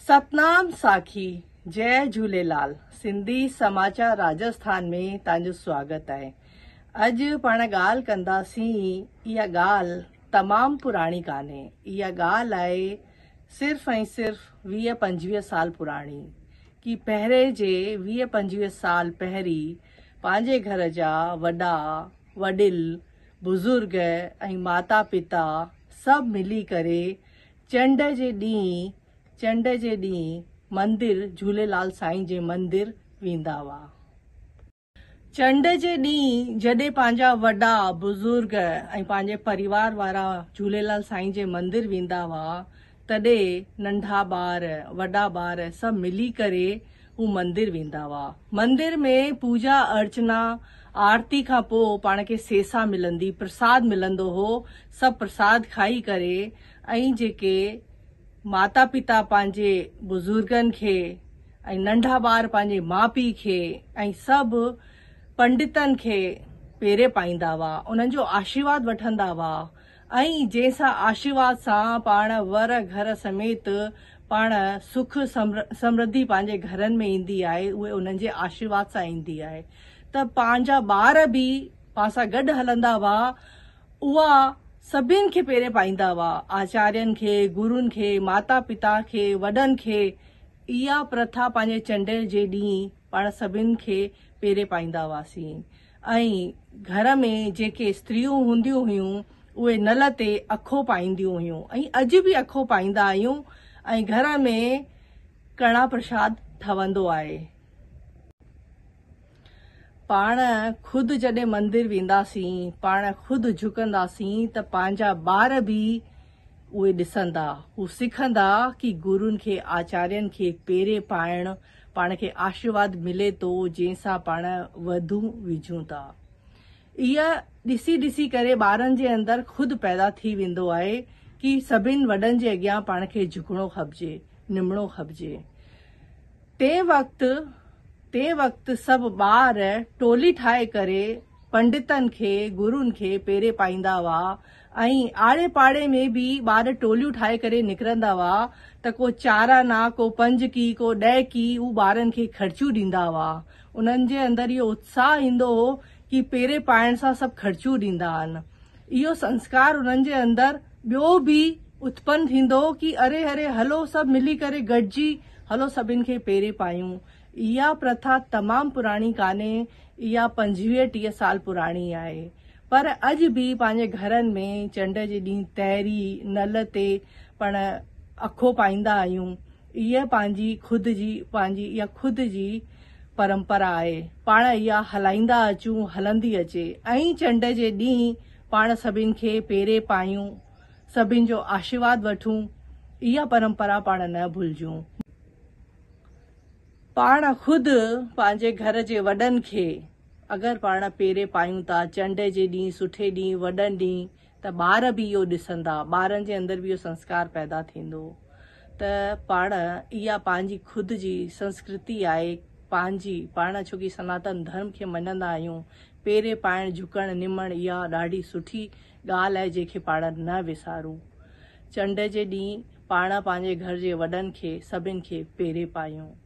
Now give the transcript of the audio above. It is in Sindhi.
ستنام ساکي جئ جھوليلال سنڌي سماچار راجسٿان ۾ تان جو سواگت آھي اڄ پاڻ ڳالھ ڪندا سين اھا ڳالھ تمام پراڻي ڪانھي اھا ڳالھ آھي صرف ۽ صرف ويھ پنجويھ سال پراڻي ڪي پهرين جي ويھ پنجويھ سال پهرين پنهنجي گهر جا وڏا وڏل بزرگ ۽ ماتا پتا سڀ ملي ڪري چنڊ جي ڏينهن چنڊ جي ڏينهن مندر جهوليلال سائين جي مندر ويندا هئا. چنڊ جي ڏينهن جڏهن پنهنجا وڏا بزرگ ۽ پنهنجي پريوار وارا جهوليلال سائين جي مندر ويندا هئا تڏي ننڍا ٻار وڏا ٻار سڀ ملي ڪري هو مندر ويندا هئا. مندر ۾ پوڄا ارچنا آرتي کان پوء پاڻ کي سيسا ملندي پرساد ملندو هو سڀ پرساد کائي ڪري ۽ جيڪي ماتا پتا پنهنجي بزرگن کي ۽ ننڍا ٻار پنهنجي ماء پي کي ۽ سڀ پنڊتن کي پيري پائيندا هئا انهن جو آشيرواد وٺندا هئا ۽ جنهن سان آشيرواد سان پاڻ ور گهر سميت پاڻ سک سمرڌي پنهنجي گهرن ۾ ايندي آهي اهي انهن جي آشيرواد سان ايندي آهي ته پنهنجا ٻار به پان سان گڏ هلندا هئا اها سڀين کي پيري پائيندا هئا آچارين کي گرون کي ماتا پتا کي وڏن کي اها پرٿا پنهنجي چنڊ جي ڏينهن پاڻ سڀين کي پيري پائيندا هئاسين ۽ گهر ۾ جيڪي استريون هونديون هيون اهي نل تي اکو پائينديون هيون ۽ اڄ به اکو پائيندا آهيون ۽ گهر ۾ ڪڙا پرشاد ٺهندو آهي. پاڻ خود جڏهن مندر وينداسين پاڻ خود جهڪنداسين ته پنهنجا ٻار به اهي ڏسندا هو سکندا ڪي گرون کي آچارين کي پيري پائڻ پاڻ کي آشرواد ملي ٿو جنهن سان پاڻ وڌون وجهون ٿا اها ڏسي ڏسي ڪري ٻارن جي اندر خود پيدا ٿي ويندو آهي ڪي سڀن وڏن جي اڳيان پاڻ کي جهڪڻو کپجي نمڻو کپجي تنهن وقت تنهن وقت سڀ ٻار ٽولي ٺاهي ڪري پنڊتن کي گرون کي پيري پائيندا هئا ائين آڙي پاڙي ۾ به ٻار ٽوليون ٺاهي ڪري نڪرندا هئا ته ڪو چار آنا، ڪو پنج ڪي، ڪو ڏهه ڪي هو ٻارن کي خرچيون ڏيندا هئا. انهن جي اندر اهو اتساهه ايندو هو ڪي پيري پائڻ سان سڀ خرچيون ڏيندا آهن. اهو سنسڪار انهن جي اندر ٻيو به اتپن ٿيندو هو ڪي اري هري هلو سڀ ملي ڪري گڏجي هلو سڀن کي پيري پايون. اها پرٿا تمام پراڻي ڪانهي اها پنجويهه ٽيهه سال پراڻي آهي. پر اڄ به پنهنجي گهرن ۾ چنڊ جي ڏينهن تيري، نل، تي پڻ اکو پائيندا آهيون. اهي پنهنجي خود جي پنهنجي اها خود جي پرمپرا آهي. پاڻ اها هلائيندا اچون هلندي اچي. ائين چنڊ جي ڏينهن پاڻ سڀن کي پيري پايون، سڀن جو آشيرواد وٺون، اها پرمپرا پاڻ نه ڀلجون. پاڻ خود پنهنجي گهر جي وڏن کي. اگر پاڻ پيري پايون ٿا چنڊ جي ڏينهن، سٺي ڏينهن، وڏن ڏينهن ته ٻار به اهو ڏسندا، ٻارن جي اندر به اهو سنسڪار پيدا ٿيندو ته پاڻ اها پنهنجي خود جي سنسڪرتي آهي پنهنجي پاڻ ڇو ڪي سناتن ڌرم کي مڃندا آهيون پيري پائڻ جهڪڻ نمڻ اها ڏاڍي سٺي ڳالهه آهي جنهن کي پاڻ نه وسارون چنڊ جي ڏينهن پاڻ پنهنجي گهر جي وڏن کي سڀن کي پيري پايون.